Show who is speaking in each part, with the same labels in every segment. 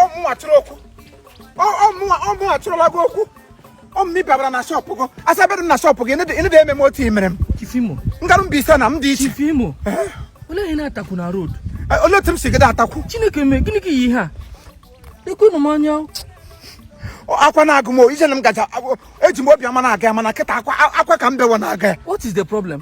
Speaker 1: ọmụnwa chọrọ okwu ọmụnwa ọmụnwa chọrọla gị okwu ọmụmị babara na shọpụ gị asa bedụ na shọpụ gị ịnịdị eme m otu i mere m Chief Imo ngaru
Speaker 2: Mbaise na m
Speaker 1: dị iche Chief
Speaker 2: Imo olee ihe na-ata akụ na road olee otu m si
Speaker 1: gịda ata akụ Chineke mee gịnị ka
Speaker 2: iyi ihe a ekwenụ m
Speaker 1: anya akwa na-agụ m ije na m gaje eji m obi ọma na-aga ya mana kịta akwa akwa ka m bewa na-aga ya what is the problem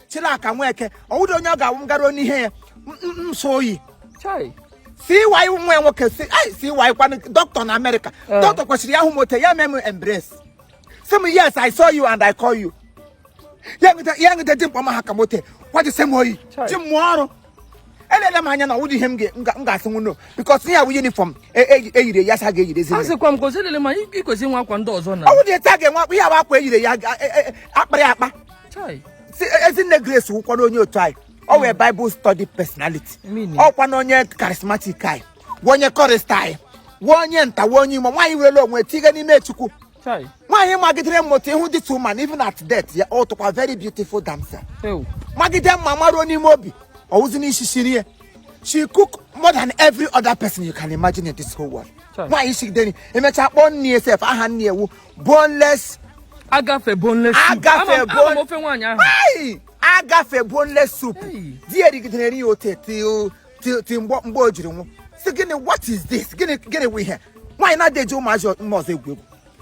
Speaker 1: Chilaka Nweke ọwụdị onye ọ ga-awụ m garuo n'ihe ya nso
Speaker 2: oyi CY
Speaker 1: wụ nwa nwoke si CY kwanụ dọkịta na America eh. dọkịta kwesịrị ya hụ m ote ya mee m embrace si m yes i saw you and i call you ya ngide dimkpa ma ha ka m ote kwaji se m oyi ji m ọrụ elele m anya na ọwụdị ihe m ga-asị nwụno because ihe a wụ uniform e yiri ya sa ga-eyirezi asịkwa m ka ozi elele ma
Speaker 2: ikwesi nwa akwa ndị ọzọ na ọwụdị etu a ga-enwe akwa ihe a
Speaker 1: wụ akwa e yiri ya a kpara ya akpa ezinne Grace wụkwara onye otu anyị ọ wụ Bible study personality ọkwa na onye charismatic anyị wụ onye chorister anyị wụ onye nta wụ onye imo nwaanyị were onwe tiga n'ime Chukwu
Speaker 2: nwaanyị
Speaker 1: magidere mma ote ị hụ this woman even at death ya ọ tụkwa very beautiful damsel magide mma maruo n'ime obi ọ wụzi n'isi nri ya she cook more than every other person you can imagine in this whole world nwaanyị shigidere e mechaa kpọọ nri ya sef aha nri ya wụ boneless
Speaker 2: agafe boneless soup agafe bon ofe nwaanyị ahụ agafe
Speaker 1: boneless soup di ya rigidere ya ote ti- ti mgbe mgbe o jiri nwụ si gịnị what is this gịnị gịnị wụ ihe nwaanyị na-adị eji ụmụazị ọ- mma ọzọ egwu egwu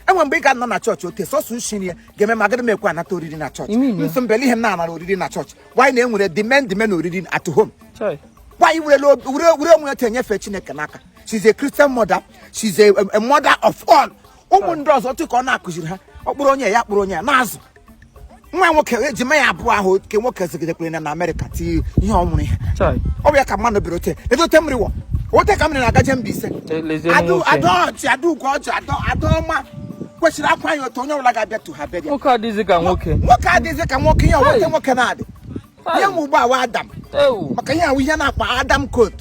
Speaker 1: e nwe mgbe ị ga-anọ na chọọchị ote sọsọ ushi nri ya ga-eme m agaghị m ekwe anata oriri na chọọchị You mean ya? nsọ mbele ihe m na-anara oriri na chọọchị nwaanyị na-enwere the men the men oriri at home Chai.
Speaker 2: nwaanyị werela obi-
Speaker 1: were were onwe ya ote nyefe Chineke n'aka she's a christian mother she's a, a mother of all ụmụ ndị ọzọ otu ka ọ na-akụziri ha ọ kpọrọ onye ya kpọrọ onye ya na-azụ nwa nwoke ejima ya abụọ ahụ ke nwoke zigidekwere na na America ti ihe ọ wụrụ ihe Chai. ọ wụ ya ka mmadụ bịara ote ebe ote mmiri wọ ote ka mmiri na-agaje Mbaise Che- lezienụ Adu- nwoke. Adaọchị Adaugo ọjị ada- Adaọma kwesịrị akwa ya otu onye ọbụla ga-abịa tu ha be gị nwoke adịghịzi ka nwoke
Speaker 2: nwoke adịghịzị ka nwoke ihe wụ ote nwoke na-adị
Speaker 1: ihe wụ ugbu a wa Adam maka ihe ahụ ihe na-akpa Adam coat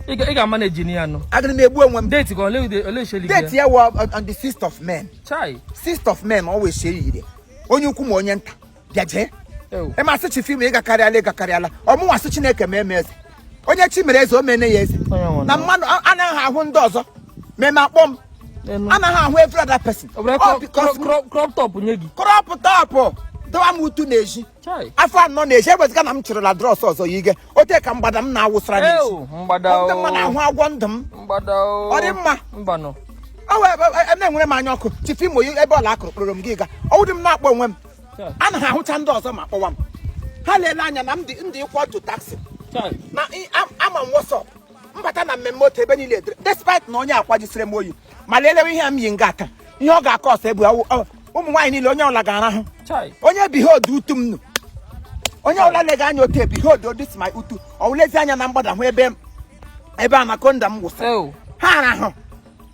Speaker 1: ị
Speaker 2: ga-manage ni ya nụ agara m egbu onwe m
Speaker 1: date ka ole
Speaker 2: sheli date ya wa on the
Speaker 1: sixth of May chai sixth of
Speaker 2: May always
Speaker 1: share yire onye ukwu ma onye nta bịa jee ị ma sị Chief Imo ị gakarịala ị gakarịala ọmụnwa sị Chineke ma eme eze onye chi mere eze o mene ya eze na mmadụ anaghị ahụ ndị ọzọ ma eme akpọ m anaghị ahụ every other person crop
Speaker 2: top nye gị crop top
Speaker 1: dọwa m utu n'ezi afọ anọ n'ezi eweziga na m chịrịla drọs ọzọ yige ote ka mgbada m na-awụsara n'ezi ndị mma na-ahụ agwọ ndụ m ọ dị mma na-enwere m anya ọkụ Chief Imo ebe ọla a kụrụ kpọrọ m gị ga ọwụdị m na-akpọ onwe m anaghị ahụcha ndị ọzọ ma kpọwa m ha leele anya na m dị ịkwọ otu taxi na ama m what's up m bata na mmemme otu ebe niile edere despite na onye akwa jisiri m oyi ma lelewe ihe m yi nga aka ihe ọ ga-akọ ọsọ ebu ụmụ nwaanyị niile onye ọla ga-arahụ onye behold utu m nụ onye ọla lega anya otu e, behold oh this my utu ọ wụ lezi anya na mgbada hụ ebe anakonda m wụsị ha arahụ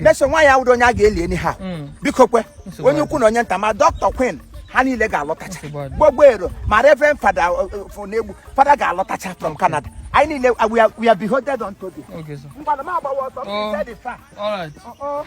Speaker 1: mesa nwaanyị a wụrụ onye a ga-eli enyi ha mm. biko kwe onye ukwu na onye nta ma dọkịta Queen ha niile ga-alọtacha gbogbo ero ma Reverend Father uh, Unegbu Father ga-alọtacha from Canada anyị niile uh, we are beholden unto thee mgbada m agbawa
Speaker 2: ọsọ oh.
Speaker 1: all right
Speaker 2: uh-uh.